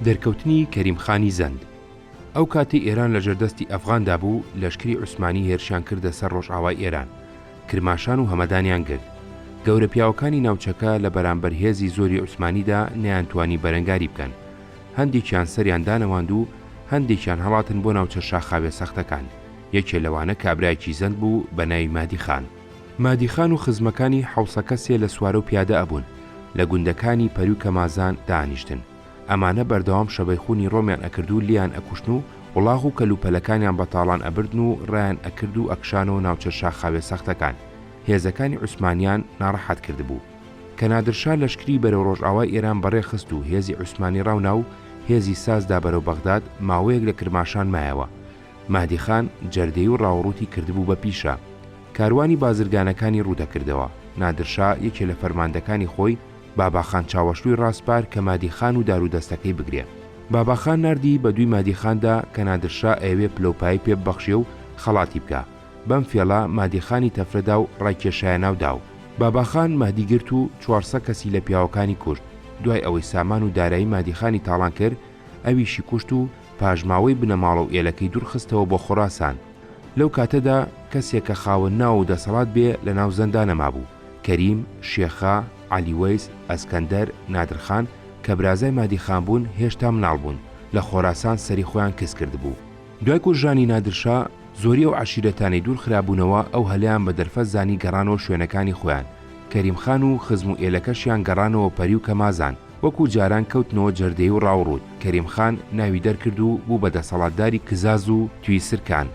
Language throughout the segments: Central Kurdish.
دەرکەوتنی کەریم خانی زەند، ئەو کاتەی ئێران لە ژێر دەستی ئەفغاندا بوو، لەشکری عوسمانی هێرشیان کردە سەر ڕۆژئاوای ئێران، کرماشان و هەمەدانیان گرت. گەورە پیاوەکانی ناوچەکە لە بەرانبەر هێزی زۆری عوسمانیدا نەیانتوانی بەرەنگاری بکەن. هەندێکیان سەریان دانەواند و هەندێکیان هەڵاتن بۆ ناوچە شاخاویە سەختەکان. یەکێ لەوانە کابرایەکی زەند بوو بە ناوی مەهدی خان. مادیخان و خزمەکانی حەوسەکە سێ لە سوارەو پیادە ئەبوون لە گوندەکانی پەری و کەمازان دانیشتن ئەمانە بەردەوام شەبەیخونی ڕۆمیان ئەکردو لیان ئەکوشتن و وڵاخ و کەل و پەلەکانیان بەتاڵان ئەبردن و ڕایان ئەکرد و ئەکشانەوە ناوچە شاخاویە سەختەکان هێزەکانی عوسمانیان ناڕەحەت کردبوو کە نادرشا لەشکری بەرەو ڕۆژئاوای ئێران بەڕێ خست و هێزی عوسمانی ڕاو ناو هێزی ساز دا بەرەو بەغداد ماوەیەک لە کرماشان مایەوە مەهدی خان جەردەی و ڕاوڕووتی کردبوو بە پیشە، کاروانی بازرگانەکانی ڕوو دەکردەوە، نادر شا یەکێ لە فەرماندەکانی خۆی بابا خان چاوەشلووی ڕاسپارد کە مەهدی خان و دار و دەستەکەی بگرێ، بابا خان ناردی بە دووی مەهدی خان دا کە نادر شا ئەیەوێ پلەوپایەی پێ ببەخشێ و خەڵاتی بکا، بەم فێڵە مەهدی خانی تەفرە دا و ڕایکێشایە ناو دا و بابا خان مەهدی گرت و چوار سە کەسی لە پیاوەکانی کوشت، دوای ئەوەی سامان و دارایی مەهدی خانی تاڵان کرد، ئەویشی کوشت و پاژماوەی بنەماڵە و ئێلەکەی دوور خستەوە بۆ خوراسان. لەو کاتەدا کەسێک کە خاوەن ناو و دەسەڵات بێ لە ناو زەندا نەمابوو. کەریم، شێخا، عەلی وەیس، ئەسکەندەر، نادرخان، کە برازای مادی خان بوون هێشتا مناڵ بوون، لە خۆراسان سەری خۆیان کز کردبوو. دوای کوژرانی نادرشا، زۆری ئەو عەشیرەتانەی دوور خرابوونەوە ئەو هەلیان بە دەرفەت زانی گەڕانەوە شوێنەکانی خۆیان. کەریم خان و خزم و ئێلەکەشیان گەڕانەوە پەری و کەمازان. وەکو جاران کەوتنەوە جەردەی و ڕاوڕووت، کەریم خان ناوی دەرکرد و بوو بە دەسەڵاتداری کزاز و توی سرکان.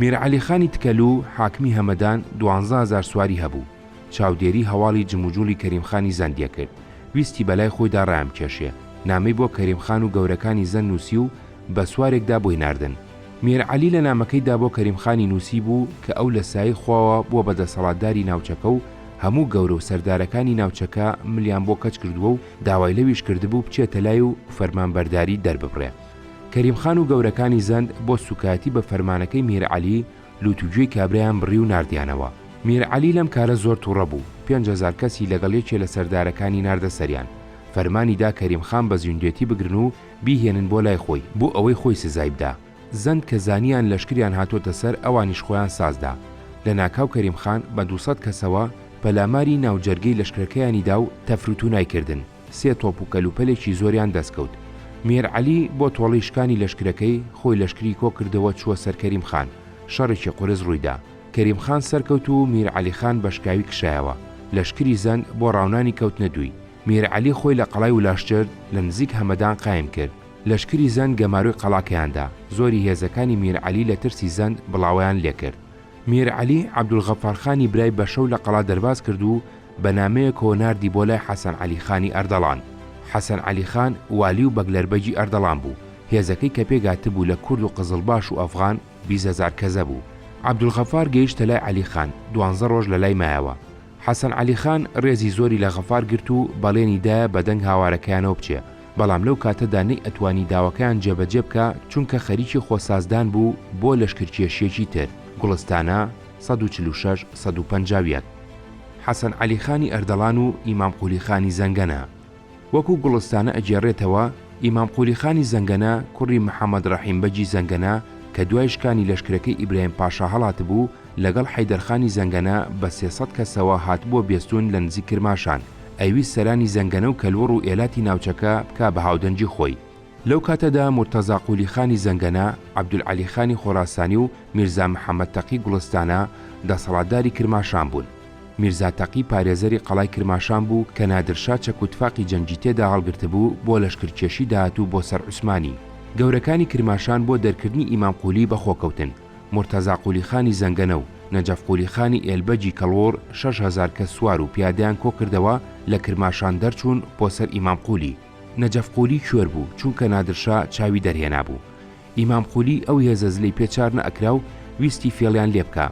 میر عەلی خانی تکەلوو، حاکمی هەمەدان، دوانزە هەزار سواری هەبوو. چاودێری هەواڵی جموجوڵی کەریم خانی زەند دەکرد. ویستی بە لای خۆیدا ڕایانبکێشێ. نامەی بۆ کەریم خان و گەورەکانی زەند نووسی و بە سوارێکدا بۆی ناردن. میر عەلی لە نامەکەیدا بۆ کەریم خانی نووسیبوو کە ئەو لە سایەی خواوە بووە بە دەسەڵاتداری ناوچەکە و هەموو گەورە و سەردارەکانی ناوچەکە ملیان بۆ کەچ کردووە و داوای لەویش کردبوو بچێتە لای و فەرمانبەرداری دەرببڕێ. کەریم خان و گەورەکانی زەند بۆ سووکایەتی بە فەرمانەکەی میر عەلی لووت و گوێی کابرایان بڕی و ناردیانەوە. میر عەلی لەم کارە زۆر تووڕە بوو، پێنج هەزار کەسی لەگەڵ یەکێ لە سەردارەکانی ناردە سەریان، فەرمانی دا کەریم خان بە زیندوێتی بگرن و بیهێنن بۆ لای خۆی بۆ ئەوەی خۆی سزای بدا زەند کە زانیان لەشکریان هاتۆتە سەر ئەوانیش خۆیان سازدا لە ناکاو کەریم خان بە دوو سەد کەسەوە پەلاماری ناو جەرگەی لەشکرەکەیانی دا و تەفروتونای کردن سێ تۆپ و کەلوپەلێکی زۆریان دەست کەوت مێر عەلی بۆ تۆڵەی شکانی لەشکرەکەی خۆی لەشکری کۆ کردەوە چووە سەر کەریم خان شەڕێکی قورس ڕوویدا کەریم خان سەرکەوت و میر عەلی خان بەشکاوی کشایەوە لەشکری زەند بۆ ڕاونانی کەوتنە دووی میر عەلی خۆی لە قەڵای ولاشجرد لە نزیک هەمەدان قایم کرد. لەشکری زەند گەمارۆی قەڵاکەیان دا، زۆری هێزەکانی میر عەلی لە ترسی زەند بڵاوەیان لێ کرد. میر عەلی عەبدولغەفار خانی برای بە شەو لە قەڵا دەرباز کرد و بە نامەیەکەوە ناردی بۆ لای حەسەن عەلی خانی ئەردەڵان. حەسەن عەلی خان والی و بەگلەربەگی ئەردەڵان بوو. هێزەکەی کە پێ گاتبوو لە کورد و قزڵباش و ئەفغان بیست هەزار کەزە بوو. عەبدولغەفار گەیشتە لای عەلی خان، دوانزە ڕۆژ لە لای مایەوە. حەسەن عەلی خان ڕێزی زۆری لە غەفار گرت و بەڵێنی دا بە دەنگ هاوارەکەیانەوە بچێ، بەڵام لەو کاتەدا نەیئەتوانی داواکەیان جێبەجێ بکا چونکە خەریکی خۆسازدان بوو بۆ لەشکرکێشییەکی تر، گوڵستانە، سەد و چل و شەش سەد و پەنجا و یەک. حەسەن عەلی خانی ئەردەڵان و ئیمام قولی خانی زەنگەنە. وەکوو گوڵستانە ئەگێڕێتەوە، ئیمام قولی خانی زەنگەنە کوڕی محەمەد ڕەحیم بەگی زەنگەنە کە دوای شکانی لەشکرەکەی ئیبراهیم پاشا هەڵاتبوو، لەگەڵ حەیدەر خانی زەنگەنە بە سێ سەد کەسەوە هاتبووە بێستوون لە نزیک کرماشان، ئەیویست سەرانی زەنگەنە و کەلوڕ و ئێلاتی ناوچەکە بکا بە هاودەنگی خۆی. لەو کاتەدا مورتەزا قولی خانی زەنگەنە، عەبدولعەلی خانی خۆراسانی و میرزا محەمەد تەقی گوڵستانە دەسەڵاتداری کرماشان بوون. میرزا تەقی پارێزەری قەڵای کرماشان بوو کە نادرشا چەک و تفاقی جەنگی تێدا هەڵگرتبوو بۆ لەشکرکێشی داهاتوو بۆ سەر عوسمانی. گەورەکانی کرماشان بۆ دەرکردنی ئیمام قولی بە خۆ کەوتن، مورتەزا قولی خانی زەنگەنە و نەجەف قولی خانی ئێلبەگی کەڵوڕ شەش هەزار کەس سوار و پیادەیان کۆ کردەوە لە کرماشان دەرچوون بۆ سەر ئیمام قولی. نەجەف قولی کوێر بوو چونکە نادرشا چاوی دەرهێنابوو. ئیمام قولی ئەو هێزە زلەی پێ چار نە ئەکرا و ویستی فێڵیان لێ بکا.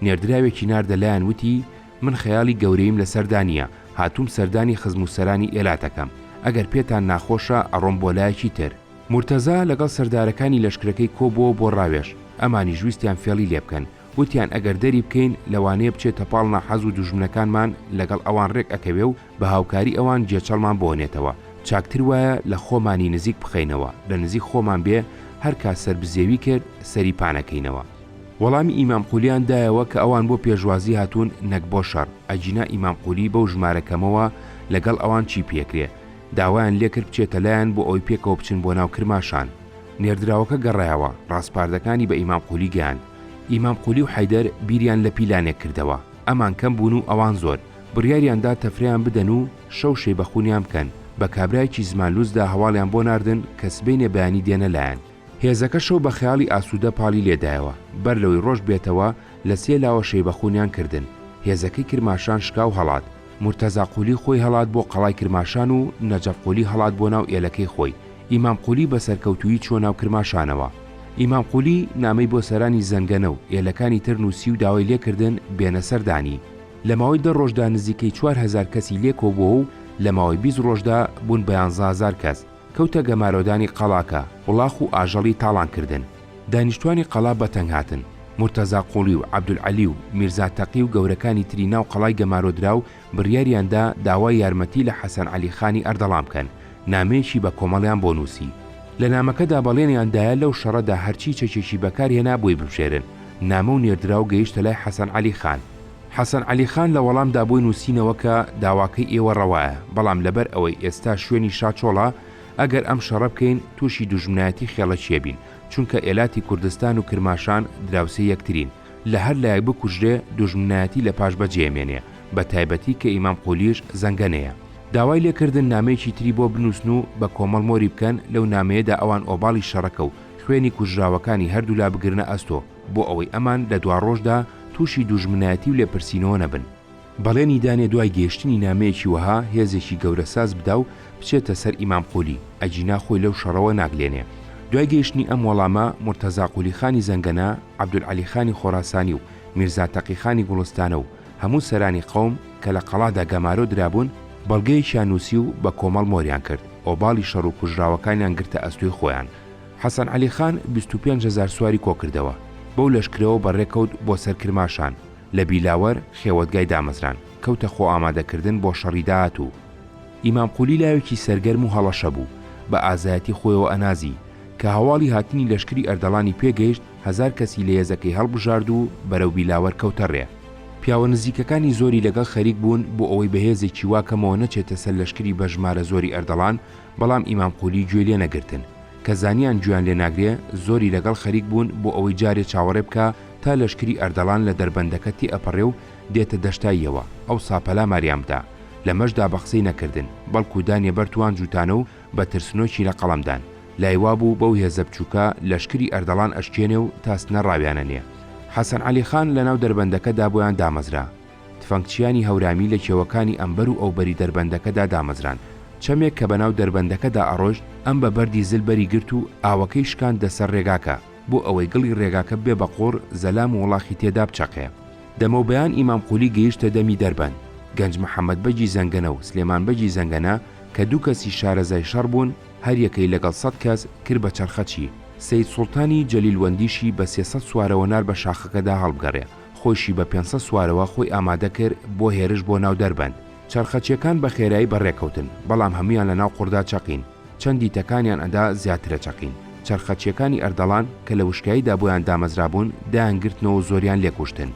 نێردراوێکی ناردە لایان وتی، من خەیاڵی گەورەییم لەسەردا نییە، هاتووم سەردانی خزم و سەرانی ئێلات ئەکەم، ئەگەر پێتان ناخۆشە ئەڕۆم بۆ لایەکی تر. مورتەزا لەگەڵ سەردارەکانی لەشکرەکەی کۆبووەوە بۆ ڕاوێژ، ئەمانیش ویستیان فێڵی لێ بکەن، وتیان ئەگەر دەری بکەین لەوانەیە بچێتە پاڵ ناحەز و دوژمنەکانمان لەگەڵ ئەوان ڕێک ئەکەوێ و بە هاوکاری ئەوان گێچەڵمان بۆنێتەوە، چاکتر وایە لە خۆمانی نزیک بخەینەوە، لە نزیک خۆمان بێ هەر کات سەربزێوی کرد سەری پانەکەینەوە. وەڵامی ئیمام قولیان دایەوە کە ئەوان بۆ پێشوازی هاتوون نەک بۆ شەڕ، ئەگینا ئیمام قولی بەو ژمارە کەمەوە لەگەڵ ئەوان چی پێکرێ؟ داوایان لێکرد بچێتە لایان بۆ ئەوەی پێکەوە بچن بۆ ناو کرماشان. نێردراوەکە گەڕایەوە، ڕاسپاردەکانی بە ئیمام قولی گەیاند. ئیمام قولی و حەیدەر بیریان لە پیلانێک کردەوە. ئەمان کەم بوون و ئەوان زۆر. بڕیاریان دا تەفرەیان بدەن و شەو شەیبەخونیان بکەن. بە کابرایەکی زمانلووسدا هەواڵیان بۆ ناردن کە سبەینێ بەیانی دێنە لایان. هێزەکەشەو بە خەیاڵی ئاسوودە پاڵی لێدایەوە، بەر لەوەی ڕۆژ بێتەوە لە سێ لاوە شەیبەخوونیان کردن، هێزەکەی کرماشان شکاو هەڵات، مورتەزا قولی خۆی هەڵات بۆ قەڵای کرماشان و نەجەف قولی هەڵات بۆ ناو ئێلەکەی خۆی، ئیمام قولی بە سەرکەوتوویی چووە ناو کرماشانەوە. ئیمام قولی نامەی بۆ سەرانی زەنگەنە و ئێلەکانی تر نووسی و داوای لێکردن بێنە سەردانی. لە ماوەی دە ڕۆژدا نزیکەی چوار هەزار کەسی لێکۆبووەو لە ماوەی بیست ڕۆژدا بوون بە یانزە هەزار کەس. کەوتە گەمارۆدانی قەڵاکە، وڵاخ و ئاژەڵی تاڵان کردن. دانیشتوانی قەڵا بەتەنگ هاتن. مورتەزا قوڵی و عەبدولعەلی و میرزا تەقی و گەورەکانی تری ناو قەڵای گەمارۆدراو بڕیاریان دا داوای یارمەتی لە حەسەن عەلی خانی ئەردەڵان بکەن، نامەیەکی بە کۆمەڵیان بۆ نووسی. لە نامەکەدا بەڵێنیان دایە لەو شەڕەدا هەرچی چەکێکی بەکار هێنا بۆی ببژێرن. نامە و نێردراو گەیشتە لای حەسەن عەلی خان. حەسەن عەلی خان لە وەڵامدا بۆی نووسینەوە کە داواکەی ئێوە ڕەوایە، بەڵام لەبەر ئەوەی ئێستا شوێنی شا چۆڵە، ئەگەر ئەم شەڕە بکەین تووشی دوژمنایەتی خێڵەکییە بین، چونکە ئێلاتی کوردستان و کرماشان دراوسێی یەکترین، لە هەر لایەک بکوژرێ دوژمنایەتی لە پاش بەجێ ئەمێنێ، بە تایبەتی کە ئیمام قولیش زەنگەنەیە. داوای لێ کردن نامەیەکی تری بۆ بنووسن و بە کۆمەڵ مۆری بکەن، لەو نامەیەدا ئەوان ئۆباڵی شەڕەکە و خوێنی کوژراوەکانی هەردوولا بگرنە ئەستۆ، بۆ ئەوەی ئەمان لە دواڕۆژدا تووشی دوژمنایەتی و لێپرسینەوە نەبن. بەڵێنی دانێ دوای گەیشتنی نامەیەکی وەها هێزێکی گەورە ساز بدا و بچێتە سەر ئیمام قولی، ئەگینا خۆی لەو شەڕەوە ناگلێنێ. دوای گەیشتنی ئەم وەڵامە، مورتەزا قولی خانی زەنگەنە، عەبدولعەلی خانی خۆراسانی و میرزا تەقی خانی گوڵستانە و هەموو سەرانی قەوم کە لە قەڵادا گەمارۆ درابوون، بەڵگەیەکیان نووسی و بە کۆمەڵ مۆریان کرد، ئۆباڵی شەڕ و کوژراوەکانیان گرتە ئەستۆی خۆیان. حەسەن عەلی خان بیست و پێنج هەزار سواری کۆکردەوە، بەو لەشکرەوە بەڕێکەوت بۆ سەر کرماشان، لە بیلاوەر خێوەتگای دامەزراند، کەوتە خۆئامادەکردن بۆ شەڕی داهاتوو. ئیمام قولی لاوێکی سەرگەرم و هەڵەشە بوو، بە ئازایەتی خۆیەوە ئەنازی، کە هەواڵی هاتنی لەشکری ئەردەڵانی پێ گەیشت، هەزار کەسی لە یەزەکەی هەڵبژارد و بەرەو بیلاوەر کەوتە ڕێ. پیاوە نزیکەکانی زۆری لەگەڵ خەریک بوون بۆ ئەوەی بە هێزێکی وا کەمەوە نەچێتە سەر لەشکری بە ژمارە زۆری ئەردەڵان، بەڵام ئیمام قولی گوێی لێ نەگرتن، کە زانیان گوێیان لێ ناگرێ زۆری لەگەڵ خەریک بوون بۆ ئەوەی جارێ چاوەڕێ بکا تا لەشکری ئەردەڵان لە دەربەندەکە تێئەپەڕێ و دێتە دەشتاییەوە، ئەوسا پەلاماریان بدا، لەمەشدا بە قسەی نەکردن، بەڵکوو دانیە بەر توان جووتانە و بە ترسنۆکی لە قەڵەم دان. لای وا بوو بەو هێزە بچووکە لەشکری ئەردەڵان ئەشکێنێ و تاسنە ڕاویانەنێ. حەسەن عەلی خان لە ناو دەربەندەکە دا بۆیان دامەزرا. تفەنگچیانی هەورامی لە کێوەکانی ئەمبەر و ئەوبەری دەربەندەکەدا دامەزران. چەمێک کە بەناو دەربەندەکەدا ئەڕۆشت، ئەم بە بەردی زل بەری گرت و ئاوەکەی شکاندە سەر ڕێگاکە، بۆ ئەوەی گڵی ڕێگاکە ببێ بە قوڕ، زەلام و وڵاخی تێدا بچەقێ. دەمەوبەیان ئیمام قولی گەیشتە دەمی دەربەند. گەنج محەمەد بەگی زەنگەنە و سلێمان بەگی زەنگەنە کە دوو کەسی شارەزای شەڕ بوون، هەر یەکەی لەگەڵ سەد کەس، کرد بە چەرخەچی. سەید سوڵتانی جەلیلوەندیشی بە سێ سەد سوارەوە نار بە شاخەکەدا هەڵبگەڕێ. خۆیشی بە پێنسە سوارەوە خۆی ئامادە کرد بۆ هێرش بۆ ناو دەربەند. چەرخەچیەکان بە خێرایی بەڕێکەوتن، بەڵام هەموویان لە ناو قوڕدا چەقین. چەندی تەکانیان ئەدا زیاترە چەقین. چەرخەچیەکانی ئەردەڵان کە لە وشکاییدا بۆیان دامەزرابوون دایان گرتنەوە و زۆریان لێ کوشتن.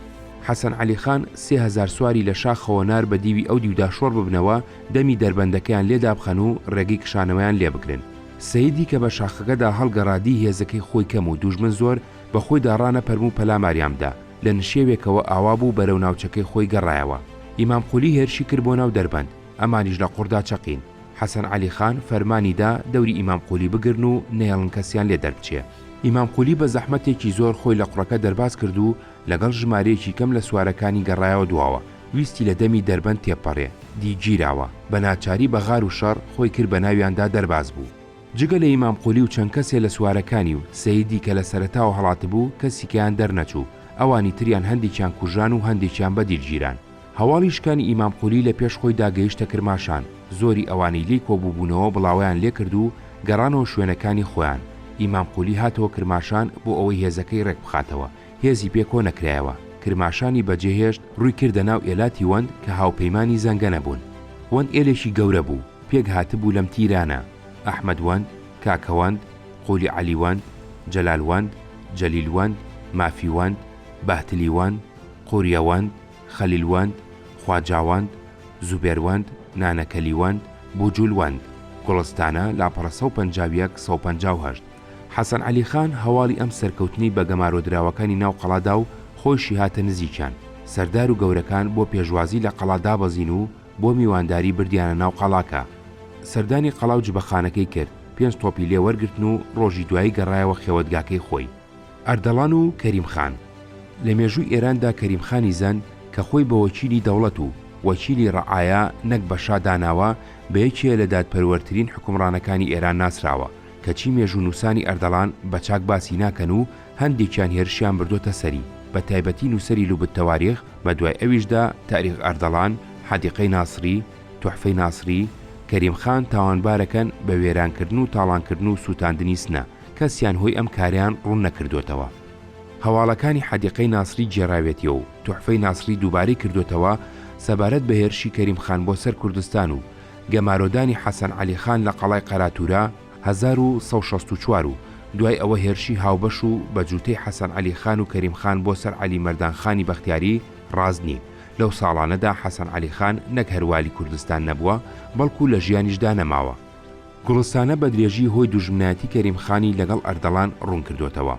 حەسەن عەلی خان سێ هەزار سواری لە شاخەوە نارد بە دیوی ئەو دیودا شۆڕ ببنەوە دەمی دەربەندەکەیان لێ دابخەن و ڕێگەی کشانەوەیان لێ بگرن. سەیدی کە بە شاخەکەدا هەڵگەڕا دی هێزەکەی خۆی کەم و دوژمن زۆر، بە خۆیدا ڕانەپەرم و پەلاماریان بدا، لە نشێوێکەوە ئاوا بوو بەرەو ناوچەکەی خۆی گەڕایەوە. ئیمام قولی هێرشی کرد بۆ ناو دەربەند، ئەمانیش لە قوڕدا چەقین. حەسەن عەلی خان فەرمانی دا دەوری ئیمام قولی بگرن و نەیەڵن کەسیان لێ دەربچێ. ئیمام قولی بە زەحمەتێکی زۆر خۆی لە قوڕەکە دەرباز کرد و لەگەڵ ژمارەیەکی کەم لە سوارەکانی گەڕایەوە دواوە، ویستی لە دەمی دەربەند تێبپەڕێ، دی گیراوە. بە ناچاری بە غار و شەڕ خۆی کرد بە ناویاندا دەرباز بوو. جگە لە ئیمام قولی و چەند کەسێ لە سوارەکانی و سەیدی کە لە سەرەتاوە هەڵاتبوو کەسیکیان دەرنەچوو، ئەوانی تریان هەندێکیان کوژران و هەندێکیان بە دیل گیران. هەواڵی شکانی ئیمام قولی لە پێش خۆی دا گەیشتە کرماشان، زۆری ئەوانەی لێی کۆبووبوونەوە بڵاوەیان لێ کرد و گەڕانەوە شوێنەکانی خۆیان، ئیمام قولی هاتەوە کرماشان بۆ ئەوەی هێزەکەی ڕێک بخاتەوە، هێزی پێ کۆ نەکرایەوە، کرماشانی بەجێ هێشت، ڕووی کردە ناو ئێلاتی وەند کە هاوپەیمانی زەنگەنە بوون. وەند ئێلێکی گەورە بوو، پێک هاتبوو لەم تیرانە، ئەحمەد وەند، کاکە وەند، قولی عەلی وەند، جەلال وەند، جەلیل وەند، مافی وەند، بەهتلی وەند، قوریە وەند، خەلیل وەند، خواجا وەند، زوبێر وەند، نانەکەلی وەند، بوجول وەند. گوڵستانە، لاپەڕە سەد و پەنجا و یەک، سەد و پەنجا و هەشت. حەسەن عەلی خان هەواڵی ئەم سەرکەوتنەی بە گەمارۆدراوەکانی ناو قەڵا دا و خۆیشی هاتە نزیکیان، سەردار و گەورەکان بۆ پێشوازی لە قەڵا دابەزین و بۆ میوانداری بردیانە ناو قەڵاکە. سەردانی قەڵا و جبەخانەکەی کرد، پێنج تۆپی لێ وەرگرتن و ڕۆژی دوایی گەڕایەوە خێوەتگاکەی خۆی. ئەردەڵان و کەریم خان. لە مێژووی ئێران دا کەریم خانی زەند کە خۆی بە وەکیلی دەوڵەت و وەکیلی ڕەعایا نەک بە شا داناوە، بە یەکێ لە دادپەروەرترین حوکمڕانەکانی ئێران ناسراوە، کەچی مێژوونووسانی ئەردەڵان بە چاک باسی ناکەن و هەندێکیان هێرشیان بردۆتە سەری، بە تایبەتی نووسەری لوبت تەواریخ، بە دوای ئەویشدا تاریخ ئەردەڵان، حەدیقەی ناسری، توحفەی ناسری، کەریم خان تاوانبارەکەن بە وێرانکردن و تاڵانکردن و سووتاندنی سنە، کەسیان هۆی ئەم کارەیان ڕوون نەکردۆتەوە. هەواڵەکانی حەدیقەی ناسری گێڕاوێتیە و توحفەی ناسری دووبارەی کردۆتەوە سەبارەت بە هێرشی کەریم خان بۆ سەر کوردستان و گەمارۆدانی حەسەن عەلی خان لە قەڵای قەراتوورا هەزار و سەد و شەست و چوار و دوای ئەوە هێرشی هاوبەش و بە جووتەی حەسەن عەلی خان و کەریم خان بۆ سەر عەلی مەردان خانی بەختیاری ڕاست نین، لەو ساڵانەدا حەسەن عەلی خان نەک هەر والی کوردستان نەبووە، بەڵکوو لە ژیانیشدا نەماوە. گوڵستانە بە درێژی هۆی دوژمنایەتی کەریم خانی لەگەڵ ئەردەڵان ڕوون کردۆتەوە.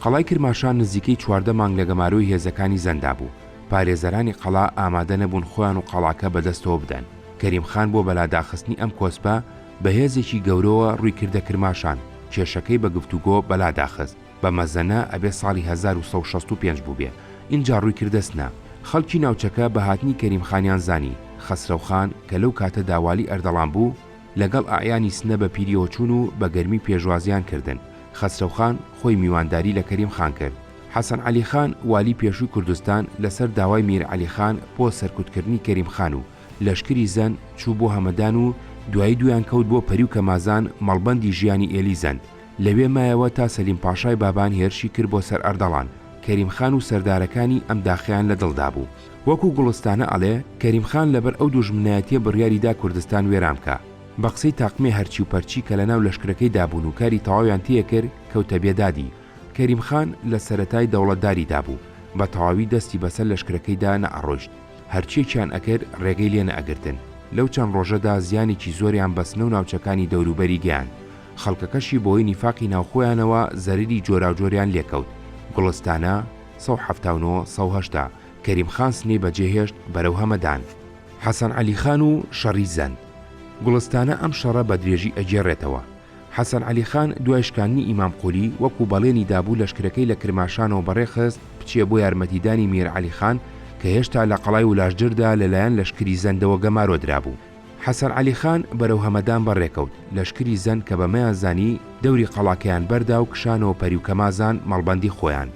قەڵای کرماشان نزیکەی چواردە مانگ لە گەمارۆی هێزەکانی زەندا بوو، پارێزەرانی قەڵا ئامادە نەبوون خۆیان و قەڵاکە بە دەستەوە بدەن، کەریم خان بۆ بەلاداخستنی ئەم کۆسپە بە هێزێکی گەورەوە ڕووی کردە کرماشان، کێشەکەی بە گفتوگۆ بەلا داخست، بە مەزەنە ئەبێ ساڵی هەزار و سەد و شەست و پێنج بووبێ، ئینجا ڕووی کردە سنە، خەڵکی ناوچەکە بە هاتنی کەریم خانیان زانی، خەسرەو خان کە لەو کاتەدا والی ئەردەڵان بوو، لەگەڵ ئەعیانی سنە بە پیریەوە چوون و بە گەرمی پێشوازیان کردن، خەسرەوخان خۆی میوانداری لە کەریم خان کرد. حەسەن عەلی خان والی پێشووی کوردستان لە سەر داوای میر عەلی خان بۆ سەرکوت کردنی کەریم خان و لەشکری زەند چوو بۆ هەمەدان و دوایی دوویان کەوت بۆ پەری و کەمازان مەڵبەندی ژیانی ئێلی زەند لەوێ مایەوە تا سەلیم پاشای بابان هێرشی کرد بۆ سەر ئەردەڵان کەریم خان و سەردارەکانی ئەم داخیان لە دڵ دابوو. وەکو گوڵستانە ئەڵێ کەریم خان لەبەر ئەو دوژمنایەتیە بڕیاری دا کوردستان وێران بکا بە قسەی تاقمێ هەرچی و پەرچی کە لەناو لەشکرەکەی دا بوون و کاری تەواویان تێ کرد کەوتە بێدادی کەریم خان لە سەرەتای دەوڵەتداری دا بوو بە تەواوی دەستی بەسەر لەشکرەکەی دا نەئەڕۆیشت هەرچیەکیان ئەکرد ڕێگەی لێ نەئەگرتن لەو چەند ڕۆژە دا زیانێکی زۆریان بەسنە و ناوچەکانی دەوروبەری گەیاند خەڵکەکەشی بەوەی نیفاقی ناوخۆیانەوە زەرەری جۆراوجۆریان لێ کەوت گوڵستانە سەد و حەفتا و نۆ سەد و هەشتا کەریم خان سنەی بەجێ هێشت بەرەو هەمەدان. حەسەن عەلی خان و شەڕی زەند گوڵستانە ئەم شەڕە بە درێژی ئەگێڕێتەوە. حەسەن عەلی خان دوای شکاندنی ئیمام قولی وەکو بەڵێنی دابوو لەشکرەکەی لە کرماشانەوە بەڕێ خست بچێ بۆ یارمەتیدانی میر عەلی خان کە هێشتا لە قەڵای ولاژدردا لەلایەن لەشکری زەندەوە گەمارۆ درابوو. حەسەن عەلی خان بەرەو هەمەدان بەڕێکەوت، لەشکری زەند کە بەمەیان زانی دەوری قەڵاکەیان بەردا و کشانەوە پەری و کەمازان مەڵبەندی خۆیان.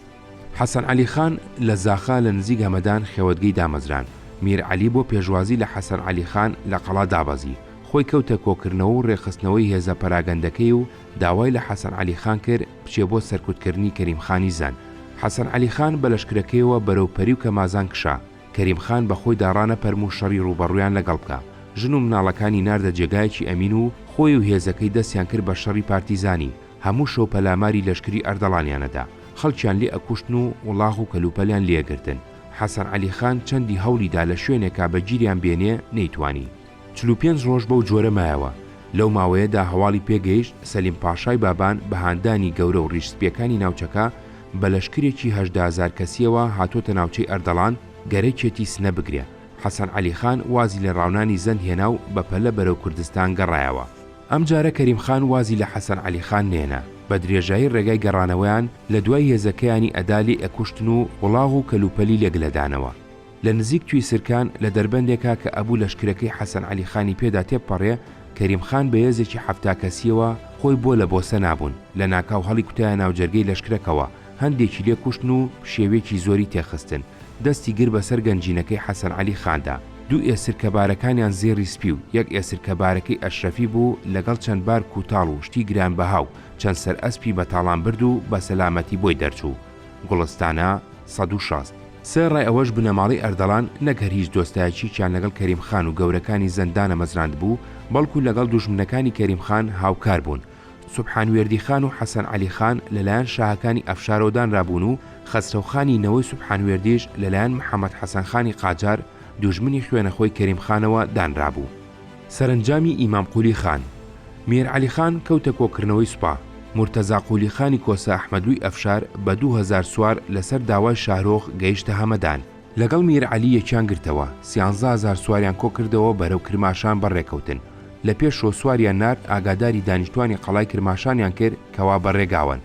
حەسەن عەلی خان لە زاخا لە نزیک هەمەدان خێوەتگەی دامەزراند، میر عەلی بۆ پێشوازی لە حەسەن عەلی خان لە قەڵا دابەزی، خۆی کەوتە کۆکردنەوە و ڕێکخستنەوەی هێزە پەراگەندەکەی و داوای لە حەسەن عەلی خان کرد بچێ بۆ سەرکوتکردنی کەریم خانی زەند. حەسەن عەلی خان بە لەشکرەکەیەوە بەرەو پەری و کەمازان کشا. کەریم خان بە خۆیدا ڕانەپەرم و شەڕی ڕووبەڕوویان لەگەڵ بکا، ژن و مناڵەکانی ناردە جێگایەکی ئەمین و خۆی و هێزەکەی دەستیان کرد بە شەڕی پارتیزانی، هەموو شەو پەلاماری لەشکری ئەردەڵانیان ئەدا، خەڵکیان لێ ئەکوشتن و وڵاخ و کەلوپەلیان لێ ئەگرتن، حەسەن عەلی خان چەندی هەوڵی دا لە شوێنێکا بە گیریان بێنێ، نەیتوانی. چل و پێنج ڕۆژ بەو جۆرە مایەوە، لەو ماوەیەدا هەواڵی پێگەیشت سەلیم پاشای بابان بە هاندانی گەورە و ڕیش سپیەکانی ناوچەکە بە لەشکرێکی هەژدە هەزار کەسیەوە هاتۆتە ناوچەی ئەردەڵان گەرەکیەتی سنە بگرێ حەسەن عەلی خان وازی لە ڕاونانی زەند هێنا و بە پەلە بەرەو کوردستان گەڕایەوە. ئەم جارە کەریم خان وازی لە حەسەن عەلی خان نەێنا، بە درێژایی ڕێگای گەڕانەوەیان لە دوای هێزەکەیانی ئەدالی ئەکوشتن و وڵاغ و کەلوپەلی لێ گلەدانەوە. لە نزیک توی سرکان لە دەربەندێکا کە ئەبوو لەشکرەکەی حەسەن عەلی خانی پێدا تێبپەڕێ، کەریم خان بە یێزێکی حەفتا کەسییەوە خۆی بۆ لە بۆسە نابوون، لە ناکاو هەڵیکوتایە ناو جەرگەی لەشکرەکەوە، هەندێکی لێ کوشتن و پشێویەکی زۆری تێ خستن، دەستی گرت بە سەر گەنجینەکەی حەسەن عەلی خاندا، دوو ئێسرکە بارەکانیان زێڕی سپی و یەک ئێسرکە بارەکەی ئەشرەفی بوو، لەگەڵ چەند بار کووتاڵ و شتی گرانبەها و چەند سەر ئەسپی بە تاڵان برد و بە سەلامەتی بۆی دەرچوو. گوڵستانە سەد و شەست. سەر ڕای ئەوەش بنەماڵەی ئەردەڵان نەک هەر هیچ دۆستایەتییەکیان لەگەڵ کەریم خان و گەورەکانی زەند دانەمەزراندبوو، بەڵکوو لەگەڵ دوژمنەکانی کەریم خان هاوکار بوون. سوبحان وێردی خان و حەسەن عەلی خان لە لایەن شاهەکانی ئەفشارەوە دانرابوون و خەسرەو خانی نەوەی سوبحان وێردیش لە لایەن محەمەد حەسەن خانی قاجار، دوژمنی خوێنەخۆی کەریم خانەوە دانرابوو. سەرەنجامی ئیمام قولی خان، میر عەلی خان، کەوتە کۆکردنەوەی سوپا، مورتەزا قولی خانی کۆسە ئەحمەدلوی ئەفشار بە دوو هەزار سوار لەسەر داوای شاهرۆخ گەیشتە هەمەدان، لەگەڵ میر عەلی یەکیان گرتەوە، سیانزە هەزار سواریان کۆکردەوە بەرەو کرماشان بەڕێکەوتن، لە پێش شۆ سواریان نارد ئاگاداری دانیشتوانی قەڵای کرماشانیان کرد کەوا بە ڕێگاوەن،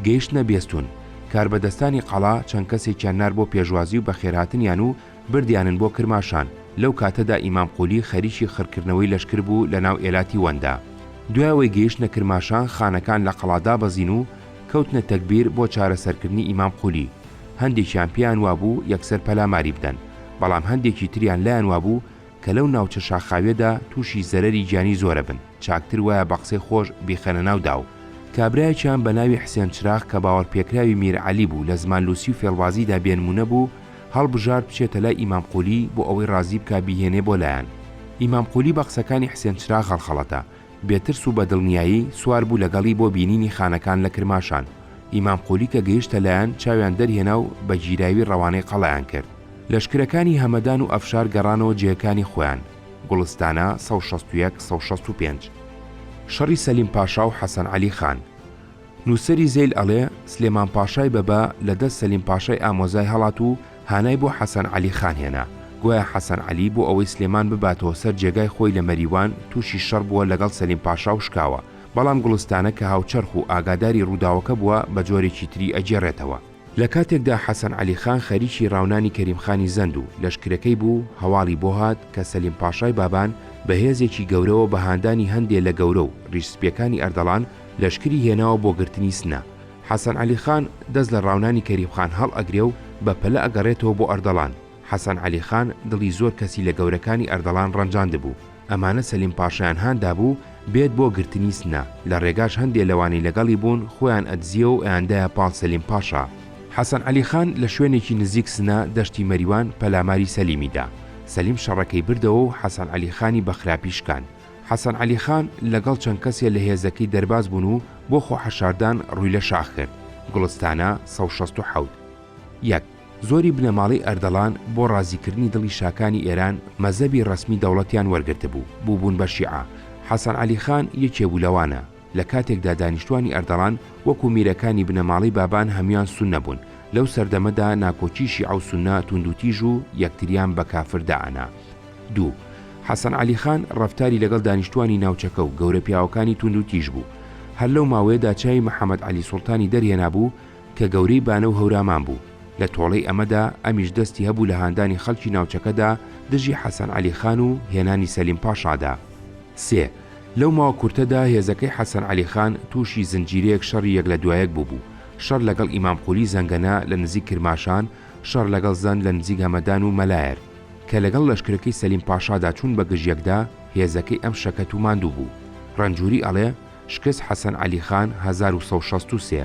گەیشتنە بێستون، کاربەدەستانی قەڵا چەند کەسێکیان نارد بۆ پێشوازی و بەخێرهاتنیان و بردیانن بۆ کرماشان، لەو کاتەدا ئیمام قولی خەریکی خڕکردنەوەی لەشکر بوو لە ناو ئێلاتی وەندا. دوای ئەوەی گەیشتنە کرماشان خانەکان لە قەڵا دابەزین و کەوتنە تەگبیر بۆ چارەسەرکردنی ئیمام قولی، هەندێکیان پێیان وابوو یەکسەر پەلاماری بدەن، بەڵام هەندێکی تریان لایان وابوو کە لەو ناوچە شاخاویەدا تووشی زەرەری گیانی زۆرەبن چاکتر وایە بە قسەی خۆش بیخەنە ناو داو. کابرایەکیان بە ناوی حسێن چراغ کە باوەڕپێکراوی میر عەلی بوو لە زمان لوسی و فێڵبازیدا بێنموونە بوو، هەڵبژارد بچێتە لای ئیمام قولی بۆ ئەوەی ڕازی بکا بیهێنێ بۆ لایان. ئیمام قولی بە قسەکانی حسێن چراغ هەڵخەڵەتا، بێ ترس و بە دڵنیایی سوار بوو لەگەڵی بۆ بینینی خانەکان لە کرماشان. ئیمام قولی کە گەیشتە لایان چاویان دەرهێنا و بە گیراوی ڕەوانەی قەڵایان کرد. لەشکرەکانی هەمەدان و ئەفشار گەڕانەوە جێکانی خۆیان، گوڵستانە، سەد و شەست و یەک، سەد و شەست و پێنج. شەڕی سەلیم پاشا و حەسەن عەلی خان. نووسەری زەیل ئەڵێ، سلێمان پاشای بەبە لە دەست سەلیم پاشای ئامۆزای هەڵات و هانای بۆ حەسەن عەلی خان هێنا، گوایە حەسەن عەلی بۆ ئەوەی سلێمان بباتەوە سەر جێگای خۆی لە مەریوان تووشی شەڕ بووە لەگەڵ سەلیم پاشا و شکاوە، بەڵام گوڵستانە کە هاوچەرخ و ئاگاداری ڕووداوەکە بووە بە جۆرێکی تری ئەگێڕێتەوە. لە کاتێکدا حەسەن عەلی خان خەریکی ڕاونانی کەریم خانی زەند و لەشکرەکەی بوو، هەواڵی بۆ هات کە سەلیم پاشای بابان بە هێزێکی گەورەوە بە هاندانی هەندێ لە گەورە و ڕیش سپییەکانی ئەردەڵان لەشکری هێناوە بۆ گرتنی سنە، حەسەن عەلی خان دەست لە ڕاونانی کەریم خان هەڵ ئەگرێ و بە پەلە ئەگەڕێتەوە بۆ ئەردەڵان، حەسەن عەلی خان دڵی زۆر کەسی لە گەورەکانی ئەردەڵان ڕەنجاندبوو، ئەمانە سەلیم پاشایان هان دابوو بێت بۆ گرتنی سنە، لە ڕێگاش هەندێ لەوانەی لەگەڵی بوون خۆیان ئەدزییەوە و ئەیاندایە پاڵ سەلیم پاشا. حەسەن عەلی خان لە شوێنێکی نزیک سنە، دەشتی مەریوان، پەلاماری سەلیمی دا. سەلیم شەڕەکەی بردەوە و حەسەن عەلی خانی بە خراپی شکاند. حەسەن عەلی خان لەگەڵ چەند کەسێ لە هێزەکەی دەرباز بوون و بۆ خۆ حەشاردان ڕووی لە شاخ کرد، گوڵستانە، سەد و شەست و حەوت. یەک. زۆری بنەماڵەی ئەردەڵان بۆ ڕازیکردنی دڵی شاکانی ئێران مەزەبی ڕەسمی دەوڵەتیان وەرگرتبوو، بووبوون بە شیعە. حەسەن عەلی خان یەکێ بوو لەوانە. لە کاتێکدا دانیشتوانی ئەردەڵان وەکوو میرەکانی بنەماڵەی بابان هەموان سوننە بوون، لەو سەردەمەدا ناکۆکیی شیعە و سوننە توندوتیژ و یەکتریان بە کافر دائەنا. دوو. حەسەن عەلی خان ڕەفتاری لەگەڵ دانیشتوانی ناوچەکە و گەورە پیاوەکانی توندوتیژ بوو. هەر لەو ماوەیەدا چاوی محەمەد عەلی سوڵتانی دەرهێنابوو، کە گەورەی بانە و هەورامان بوو، لە تۆڵەی ئەمەدا ئەمیش دەستی هەبوو لە هاندانی خەڵکی ناوچەکەدا دژی حەسەن عەلی خان و هێنانی سەلیم پاشادا. سێ. لەو ماوە کورتەدا هێزەکەی حەسەن عەلی خان تووشی زنجیرەیەک شەڕی یەک لە دوایەک بووبوو، شەڕ لەگەڵ ئیمام قولی زەنگەنە لە نزیک کرماشان، شەڕ لەگەڵ زەند لە نزیک هەمەدان و مەلایەر. کە لەگەڵ لەشکرەکەی سەلیم پاشادا چوون بە گژ یەکدا، هێزەکەی ئەم شەکەت و ماندوو بوو. رەنجوری ئەڵێ. شکست حەسەن عەلی خان هەزار و سەد و شەست و سێ.